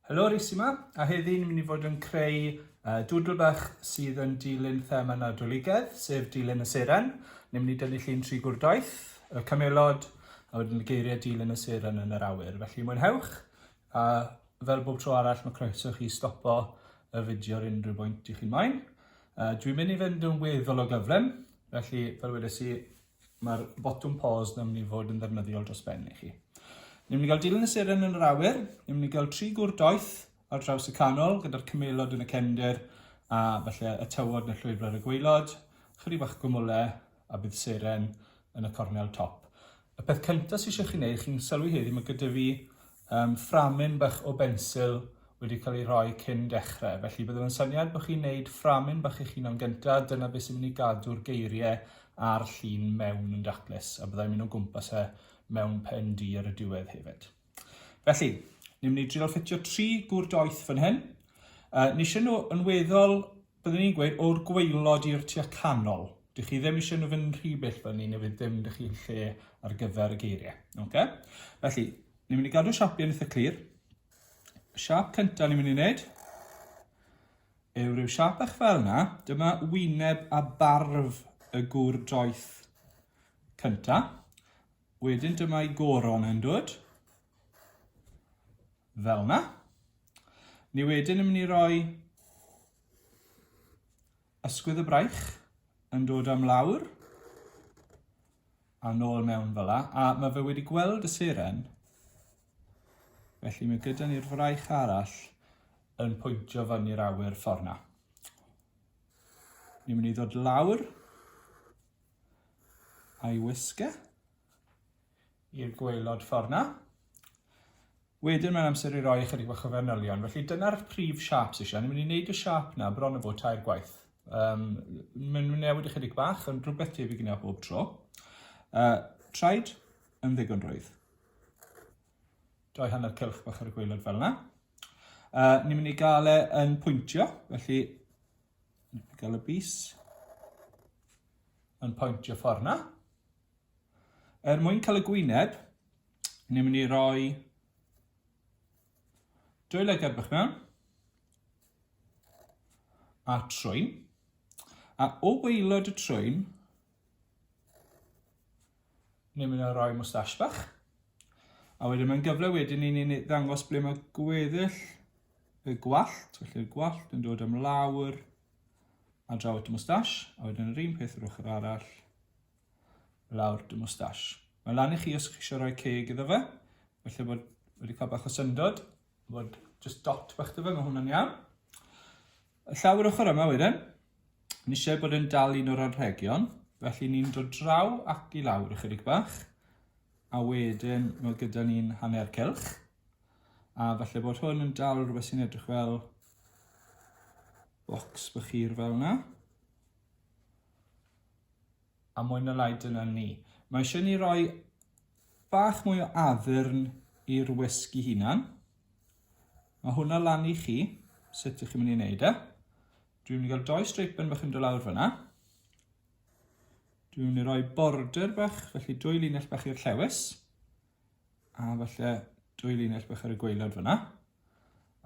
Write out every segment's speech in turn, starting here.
Helo, Rhys yma, a heddi ni'n mynd i fod yn creu uh, dwdl bach sydd yn dilyn thema nadoligedd, sef dilyn y seren. Ni'n mynd i dynnu llun tri gwrdaeth, y camelod, a wedyn y geiriau dilyn y seren yn yr awyr. Felly mwynhewch, a fel bob tro arall mae croeso chi stopo y fideo ar unrhyw bwynt i chi'n moyn. Uh, dwi'n mynd i fynd yn weddol o gyflym, felly fel wedes i, Mae'r botwm pause yn mynd i fod yn ddefnyddiol dros ben i chi. Ni'n mynd i gael dilyn y seren yn yr awyr, ni'n mynd i gael tri gwr doeth ar draws y canol gyda'r cymelod yn y cefndir a felly y tywod yn y llwybr ar y gweilod, chyri bach gwmwle a bydd seren yn y cornel top. Y peth cyntaf sy'n eisiau chi wneud, chi'n sylwi heddi, mae gyda fi Yym, fframyn bach o bensil wedi cael ei rhoi cyn dechrau, felly byddwn yn syniad bod chi'n neud fframyn bach eich hunan gynta, dyna beth sy'n mynd i gadw'r geiriau a'r llun mewn yn daclus, a byddai'n mynd o gwmpas e mewn pen du ar y diwedd hefyd. Felly, ni'n mynd i drio ffitio tri gŵr doeth fan hyn. Uh, Nisio nhw yn weddol Byddwn i'n gweud o'r gwaelod i'r tua canol. Dych chi ddim eisiau nhw fynd rhy bell fyny neu fydd dim dych chi'n lle ar gyfer y geiriau. Okay? Felly, ni'n mynd i gadw siapiau yn eitha clir. Y siap cyntaf ni'n mynd i wneud yw rhyw siap eich fel yna. Dyma wyneb a barf y gŵr doeth cyntaf. Wedyn dyma'i goron yn dod. Fel yna. Ni wedyn yn mynd i roi ysgwydd y braich yn dod am lawr a nôl mewn fel la, a mae fe wedi gweld y seren. Felly mae gyda ni'r fraich arall yn pwyntio fyny'r awyr ffordd na. Ni'n mynd i ddod lawr a'i wisge. i'r gwaelod ffordd 'na. Wedyn mae'n amser i roi ychydig bach o fanylion. Felly dyna'r prif siap sy'n eisiau. Ni'n mynd i wneud y siap na bron o fod tair gwaith. Um, mae'n mynd newid ychydig bach, ond rhywbeth tebyg yna bob tro. Uh, traed yn ddigon rwydd. Doi hanner cylch bach ar y gwaelod fel yna. Uh, ni'n mynd i gael e yn pwyntio, felly gael y bus yn pwyntio ffordd yna. Er mwyn cael y gwyneb, ni'n mynd i roi dwy le gerbych mewn a trwyn. A o weilod y trwyn, ni'n mynd i roi mwstash bach. A wedyn mae'n gyfle wedyn i ni'n ddangos ble mae gweddill y gwallt, felly'r gwallt yn dod am lawr a draw at y mwstash, a wedyn yr un peth yr ochr arall. lawr dy mwstash. Mae lan i chi os chi eisiau rhoi ceg iddo fe. Felly bod wedi cael bach o syndod. Bod just dot bach dy fe, mae hwnna'n iawn. Y llawr ochr yma wedyn, ni eisiau bod yn dal un o'r anrhegion. Felly ni'n dod draw ac i lawr ychydig bach. A wedyn mae gyda ni'n hanner cylch. A falle bod hwn yn dal rhywbeth sy'n edrych fel bocs bychir fel yna. A mwy na lai dyna ni. Mae eisiau ni roi bach mwy o addurn i'r wisg i hunan. Mae hwnna lan i chi, sut ych chi'n mynd i wneud e. Dwi'n mynd i gael doi streipen bach yn dod lawr fyna. Dwi'n mynd i roi border bach, felly dwy linell bach i'r llewis. A falle dwy linell bach ar y gweilod fyna.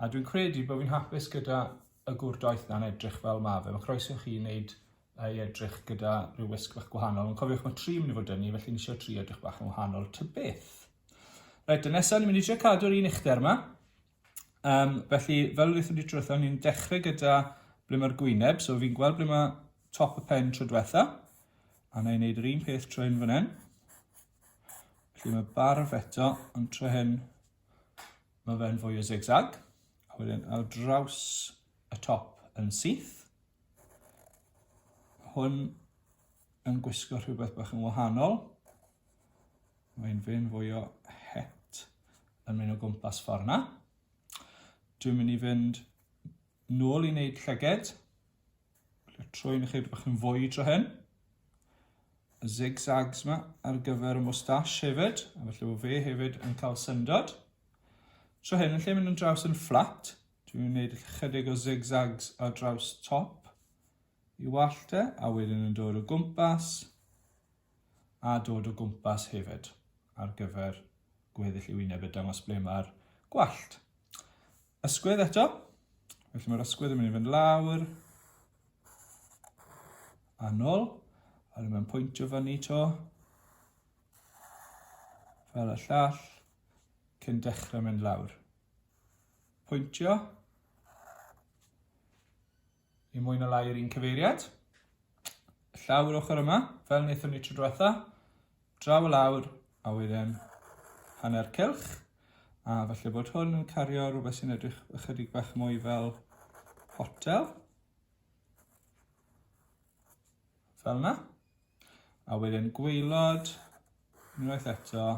A dwi'n credu bod fi'n hapus gyda y gwr doeth na'n edrych fel ma fe. Mae croeso chi wneud ei edrych gyda rhyw wisg bach gwahanol. Ond cofiwch mae tri mynd i fod dynnu, felly ni eisiau tri edrych bach yn wahanol ty beth. Reit, y nesaf ni'n mynd i eisiau cadw'r un uchder yma. Um, felly, fel rydych wedi trwytho, ni'n dechrau gyda ble mae'r gwyneb. So fi'n gweld ble mae top y pen tro diwetha. A na i wneud yr un peth trwy yn fan hyn. Felly mae barf eto, ond tro hyn mae fe'n fwy o zigzag. A wedyn ar draws y top yn syth. Hwn yn gwisgo rhywbeth bach yn wahanol. Mae'n fe'n fwy o het yn mynd o gwmpas ffordd na. Dwi'n mynd i fynd nôl i wneud llyged. Troi'n ychydig bach yn fwy tro hyn. Y zigzags yma ar gyfer y moustache hefyd, a felly bod fe hefyd yn cael syndod. Tro hyn, yn lle mynd yn draws yn fflat, dwi'n gwneud ychydig o zigzags ar draws top i wallte, a wedyn yn dod o gwmpas, a dod o gwmpas hefyd ar gyfer gweddill ei wyneb a dangos ble mae'r gwallt. Ysgwydd eto, felly mae'r ysgwydd yn mynd i fynd lawr, a nôl, a rydym yn pwyntio fyny to, fel y llall, cyn dechrau mynd lawr. Pwyntio, Yn mwy na lai yr un cyfeiriad. Llaw yr ochr yma, fel wnaethon ni tro diwetha. Draw y lawr, a wedyn hanner cylch. A falle bod hwn yn cario rhywbeth sy'n edrych ychydig bach mwy fel hotel. Fel yna. A wedyn gweilod, unwaith eto,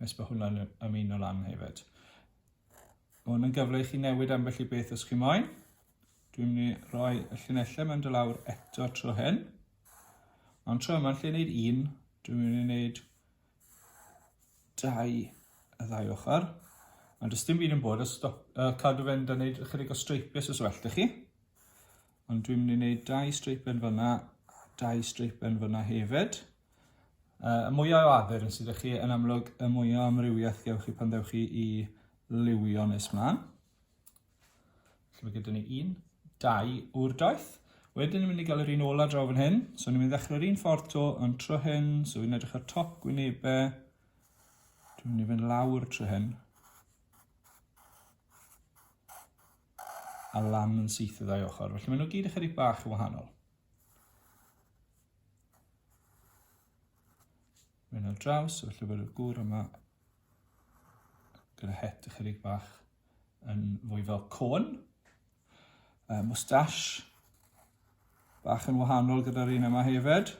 Nes bod hwnna'n ymuno lan hefyd. Mae hwn yn gyfle i chi newid ambell i beth os chi moyn. Dwi'n mynd i roi y llunellau mewn dylawr eto tro hyn. Ond tro yma, lle wneud un, dwi'n mynd i wneud dau y ddau ochr. Ond does dim byd yn bod, os stop, uh, cadw fe'n da wneud ychydig o streipiau os well da chi. Ond dwi'n mynd i wneud dau streipen fyna a dau streipen fyna hefyd. Uh, y mwyaf o addurn sydd chi yn amlwg, y mwyaf o amrywiaeth gewch chi pan ddewch chi i liwio nes mlaen. Felly mae gyda ni un, dau o'r doeth. Wedyn ni'n mynd i gael yr un ola draw fan hyn. So ni'n mynd i ddechrau'r un ffordd to yn tro hyn. So fi'n edrych ar top gwynebau. Dwi'n mynd i fynd lawr tro hyn. a lamb yn syth y ddau ochr. Felly maen nhw gyd ychydig bach yn wahanol. Mae'n ar draws, felly bod y gŵr yma gyda het ychydig bach yn fwy fel côn. Uh, mustache, bach yn wahanol gyda'r un yma hefyd.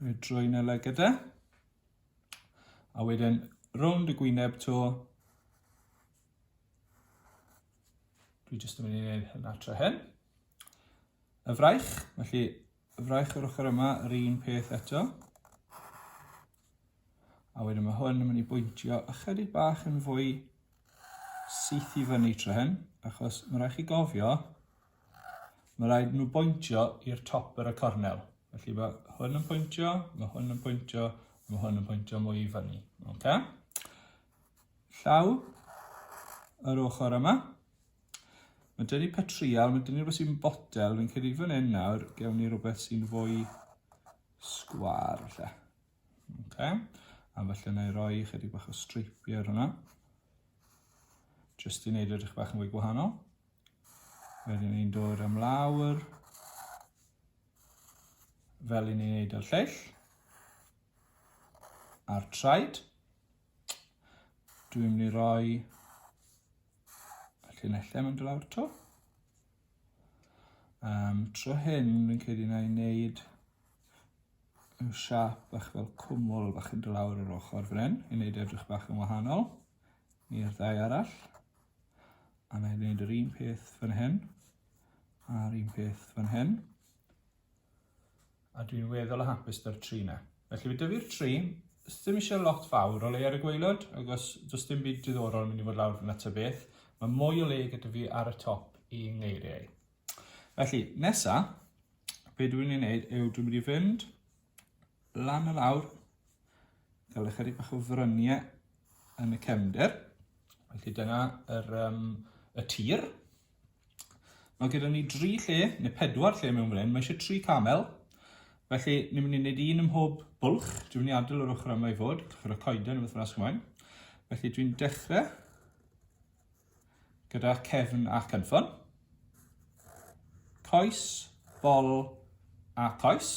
Rwy drwy'n y legyda. A wedyn, rownd y gwyneb to, Dwi jyst yn mynd i wneud hynna tra hyn. Y fraich, felly y fraich o'r ochr yma, yr un peth eto. A wedyn mae hwn yn mynd i bwyntio ychydig bach yn fwy syth i fyny tra hyn, achos mae rhaid chi gofio, mae rhaid nhw bwyntio i'r top yr y cornel. Felly mae hwn yn pwyntio, mae hwn yn pwyntio, mae hwn yn pwyntio mwy i fyny. Okay? llaw yr ochr yma. Mae dyn ni petrial, mae dyn ni rhywbeth sy'n botel, fi'n credu fan hyn nawr, gewn ni rhywbeth sy'n fwy sgwar lle. Okay. A felly na i roi chydig bach o streipiau ar hwnna. Just i wneud edrych bach yn fwy gwahanol. Wedyn ni'n dod am lawr. Fel i ni'n wneud ar lleill. a'r traed. Dwi'n mynd i roi y llinellau mynd lawr to. Um, tro hyn, fi'n credu na i wneud yw siap bach fel cwmwl bach yn dylawr yr ochr fan hyn, i wneud edrych bach yn wahanol i'r ddau arall. A na i wneud yr un peth fan hyn, a'r un peth fan hyn. A dwi'n weddol o hapus da'r tri na. Felly fe dyfu'r tri, ddim eisiau lot fawr o le ar y gweilod, agos does dim byd diddorol yn mynd i fod lawr fyna ta beth. Mae mwy o le gyda fi ar y top i ngeiriau. Felly, nesa, be dwi'n ei wneud yw dwi'n mynd i fynd lan y lawr, cael ychydig bach o fryniau yn y cefnder. Felly dyna yr, um, y tir. Mae gyda ni dri lle, neu pedwar lle mewn fan hyn. Mae eisiau tri camel. Felly, ni'n mynd i wneud un ym mhob bwlch. Dwi'n mynd i adael yr ochr yma i fod, cyfer y coeden yn wythnos ymlaen. Felly, dwi'n dechrau gyda cefn a cynffon. Coes, bol a coes.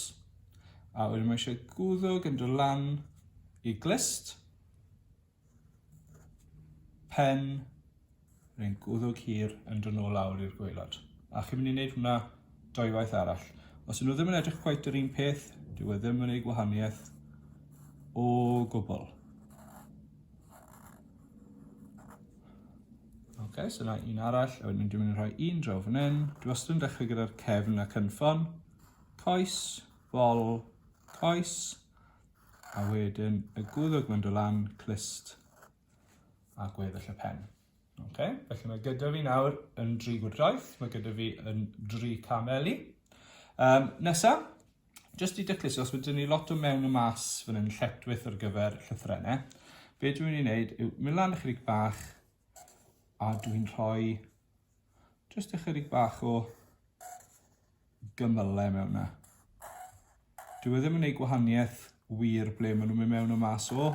A wedyn mae eisiau gwddwg yn dod lan i glist. Pen rhywun gwddwg hir yn dod nôl lawr i'r gwaelod. A chi'n mynd i wneud hwnna doi waith arall. Os ydyn nhw ddim yn edrych cweit yr un peth, dyw e ddim yn ei gwahaniaeth o gwbl. okay, so yna un arall, a wedyn dwi'n mynd i rhoi un draw fan hyn. Dwi wastad yn dechrau gyda'r cefn a cynffon. Coes, bol, coes. A wedyn y gwddg mynd o lan, clust a gweddill y pen. Okay. Felly mae gyda fi nawr yn dri gwrdraeth, mae gyda fi yn dri cameli. Um, nesa, jyst i dyclus, os wedi'n ni lot o mewn y mas fan hyn lletwyth ar gyfer llythrennau, be dwi'n mynd i wneud yw mynd lan ychydig bach A dwi'n rhoi jyst ychydig bach o gymyle mewn 'na. Dyw e ddim yn neud gwahaniaeth wir ble maen nhw'n mynd mewn a mas o.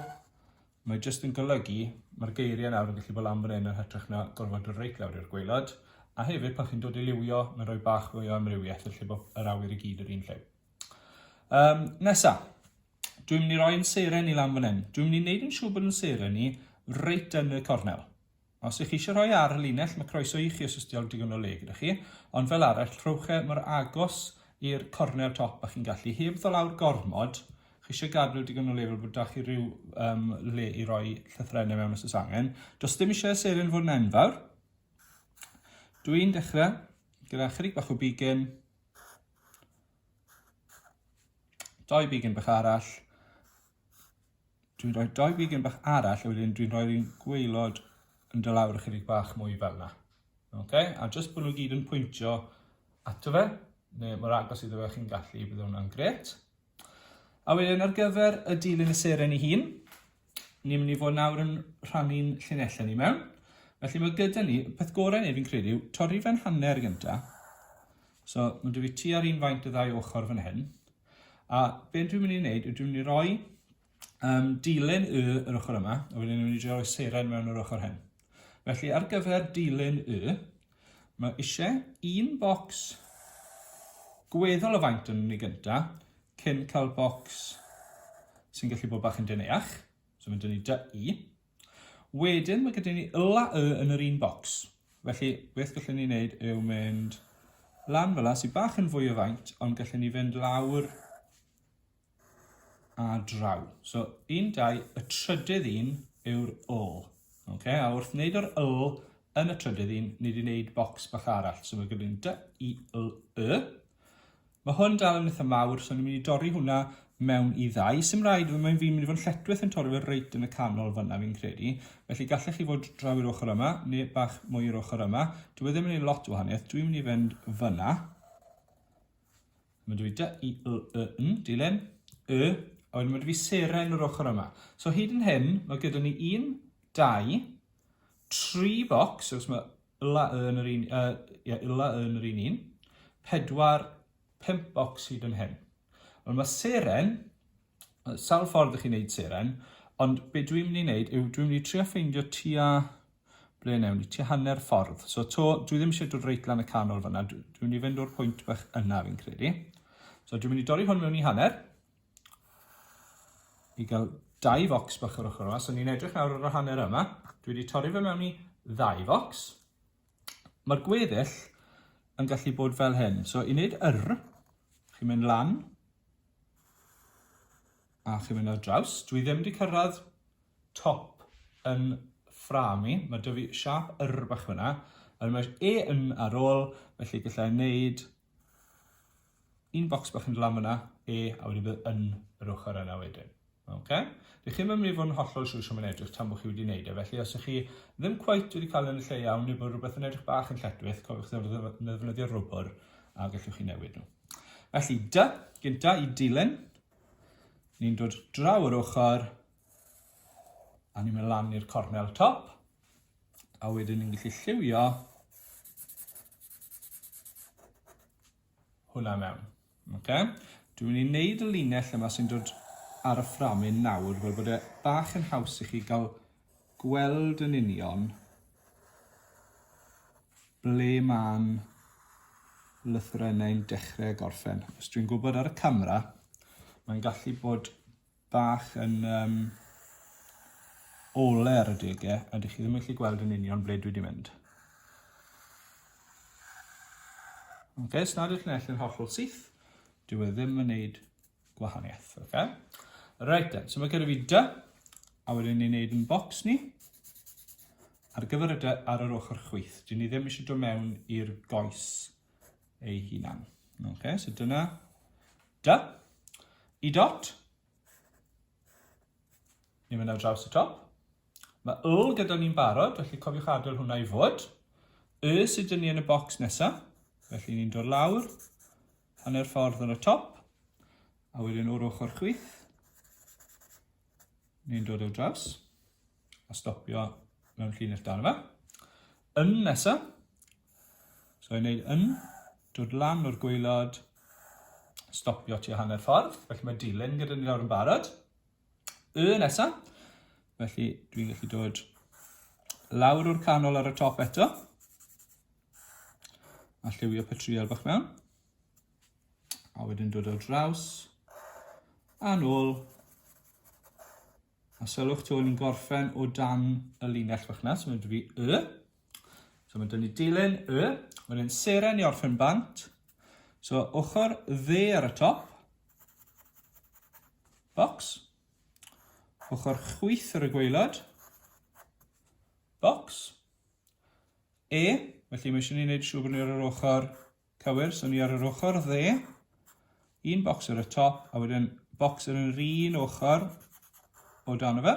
Mae jyst yn golygu, mae'r geiriau nawr yn gallu bod lan fan hyn yn hytrach na gorfod dod reit lawr i'r gwaelod. A hefyd, pan chi'n dod i liwio, mae'n rhoi bach fwy o amrywiaeth lle bod yr awyr i gyd yr un lle. Um, nesa, Dwi'n mynd i roi yn seren i lan fan hyn. Dwi'n mynd i wneud yn siŵr bod yn seren i reit yn y cornel. Os ych chi eisiau rhoi ar y linell, mae croeso i chi os ysdi awr digon o le gyda chi, ond fel arall, rhowch e mor agos i'r cornel top a chi'n gallu. Heb ddol awr gormod, chi eisiau gadw digon o le fel bod da chi rhyw um, le i roi llythrennau mewn os oes angen. Does dim eisiau seren fod yn enfawr. Dwi'n dechrau gyda chydig bach o bigyn, Doi bigyn bach arall. Dwi'n rhoi doi bigyn bach arall a wedyn dwi'n rhoi'r un gweilod yn dy lawr ychydig bach mwy fel yna. Okay? A jyst bod nhw gyd yn pwyntio ato fe, neu mor agos iddo fe chi'n gallu, bydd hwnna'n gret. A wedyn ar gyfer y dilyn y seren ei hun, ni'n mynd i fod nawr yn rhannu'n llinellau ni mewn. Felly mae gyda ni, peth gorau neu fi'n credu, torri fe'n hanner gyntaf, So, mae dwi fi tua'r un faint y ddau ochr fan hyn. A beth dwi'n mynd i wneud yw dwi'n mynd i roi um, dilyn y yr ochr yma, a wedyn dwi'n mynd i drio roi seren mewn yr ochr hyn. Felly, ar gyfer dilyn y, mae eisiau un bocs gweddol o faint yn ni gynta, cyn cael bocs sy'n gallu bod bach yn deneach. So mae dyn ni dy i. Wedyn mae gyda ni L a Y yn yr un bocs. Felly, beth gallwn ni wneud yw mynd lan fel yna, sy'n bach yn fwy o faint, ond gallwn ni fynd lawr a draw. So, un, dau, y trydydd un yw'r L. Okay? A wrth wneud yr L yn y trydydd un, ni wedi wneud bocs bach arall. So mae gyda ni D, I, L, Y. Ma hwn dal yn itha mawr so ni'n mynd i dorri hwnna mewn i ddau. Sim rhaid fe, mae'n fi'n mynd i fod yn lletwith yn torri fe reit yn y canol fyna fi'n credu. Felly gallech chi fod draw i'r ochr yma neu bach mwy i'r ochr yma. Dwi e ddim yn ei lot o wahaniaeth, dwi'n mynd i fynd fyna. Mae dwi i dy i y y yn, dilyn, y, a wedyn mae dwi i seren yr ochr yma. So hyd yn hyn, mae gyda ni un, dau, tri bocs, os mae Illa yn yr un, yy, ie, illa yn yr un un. Pedwar, pump bocs hyd yn hyn. Ond mae seren, sawl ffordd ych chi'n neud seren, ond be dwi'n mynd i wneud yw dwi'n mynd i trio ffeindio tua, ble newn ni, tua hanner ffordd. So to, dwi ddim eisiau dod reit lan y canol fyna, dwi'n mynd i fynd o'r pwynt bach yna fi'n credu. So dwi'n mynd i dorri hwn mewn i hanner, i gael dau focs bach o'r ochr yma. So ni'n edrych nawr ar y hanner yma. Dwi wedi torri fe mewn i ddau focs. Mae'r gweddill yn gallu bod fel hyn. So i wneud yr, chi'n mynd lan, a chi'n mynd ar draws. Dwi ddim wedi cyrraedd top yn ffram i. Mae dy fi siap yr bach fyna. Yr mae e yn ar ôl, felly gallai wneud Un bocs bach yn glam yna, E, a wedi bod yn yr ochr yna wedyn. Okay? Dych chi'n mynd i fod yn hollol siŵr sio mae'n edrych tan bod chi wedi wneud e, felly os ych chi ddim cweit wedi cael yn y lle iawn neu bod rhywbeth yn edrych bach yn lletwith, cofiwch ddefnyddio rwbr a gallwch chi newid nhw. Felly, dy, gynta i dilyn, ni'n dod draw yr ochr, A ni'n mynd lan i'r cornel top. A wedyn ni'n gallu lliwio hwnna mewn. Okay? Dwi'n mynd i wneud y linell yma sy'n dod ar y fframyn nawr fel bod e bach yn haws i chi gael gweld yn union ble mae'n lythrennau'n dechrau gorffen. Os dwi'n gwybod ar y camera, mae'n gallu bod bach yn um, ole ar y degau a dych chi ddim yn gallu gweld yn union ble dwi wedi mynd. Okay, os nad ydych chi'n allu'n hollol syth, dwi e ddim yn gwneud gwahaniaeth. Okay? Right then, so mae gyda fi dy, a wedyn ni'n gwneud yn bocs ni. Ar gyfer y dy ar yr ochr chwyth, dyn ni ddim eisiau dod mewn i'r goes ei hunan. Ok, so dyna dy. I dot. Ni'n mynd ar draws y top. Mae yl gyda ni'n barod, felly cofiwch adael hwnna i fod. Y sydd dyn ni yn y bocs nesaf. Felly ni'n dod lawr, hanner ffordd ar y top, a wedyn o'r ochr chwith, ni'n dod o draws, a stopio mewn llinell dan yma. Yn nesaf, So i'n neud yn, dod lan o'r gweilod, stopio ti o hanner ffordd, felly mae dilyn gyda ni lawr yn barod. Y nesa, felly dwi'n gallu dod lawr o'r canol ar y top eto, a lliwio patrial bach mewn, a wedyn dod o draws, a nôl, A sylwch to, ni'n gorffen o dan y linell fach na, so mae'n dwi y. So mae'n dynnu dilyn y, wedyn seren i orffen bant. So ochr dde ar y top, box, ochr chwyth ar y gweilod, box, e, felly mae eisiau ni wneud siŵr bod ni ar yr ochr Cywir, so ni ar yr ochr dde, un bocs ar y top, a wedyn bocs ar yr un ochr o dan o fe.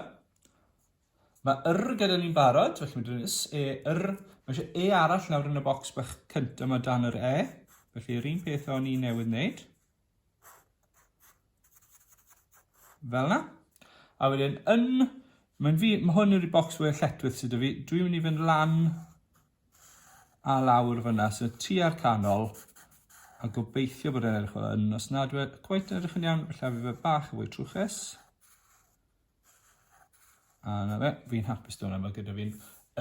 Mae yr gyda ni'n barod, felly mae dyn is e, yr, mae eisiau e arall nawr yn y bocs bach cynt yma dan yr e, felly yr un peth o'n i newydd wneud. Fel na. A wedyn yn... Mae'n fi... Mae hwn yw'r bocs fwyaf lletwith sydd 'da fi. Dwi'n mynd i fynd lan a lawr fyna, so tua'r canol, a gobeithio bod e'n edrych fel hyn. Os nad yw e cweit yn edrych yn iawn, felly a fi fe bach yn fwy trwchus. A na fe, fi'n hapus dod yna, mae gyda fi'n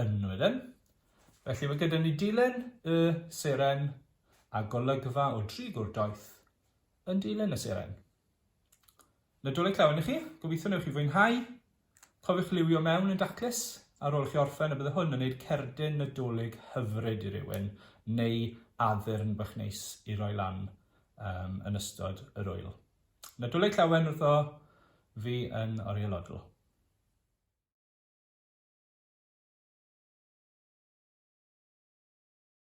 ynwydden. Felly mae gyda ni dilen y seren a golygfa o dri gwr doeth yn dilen y seren. Nadolig llawen i chi, gobeithio newch chi fwynhau. Cofiwch liwio mewn yn daclus ar ôl chi orffen a bydde hwn yn gwneud cerdyn nadolig hyfryd i rywun neu addurn bach neis i roi lan um, yn ystod yr wyl. Nadolig llawen wrtho fi yn orielodl.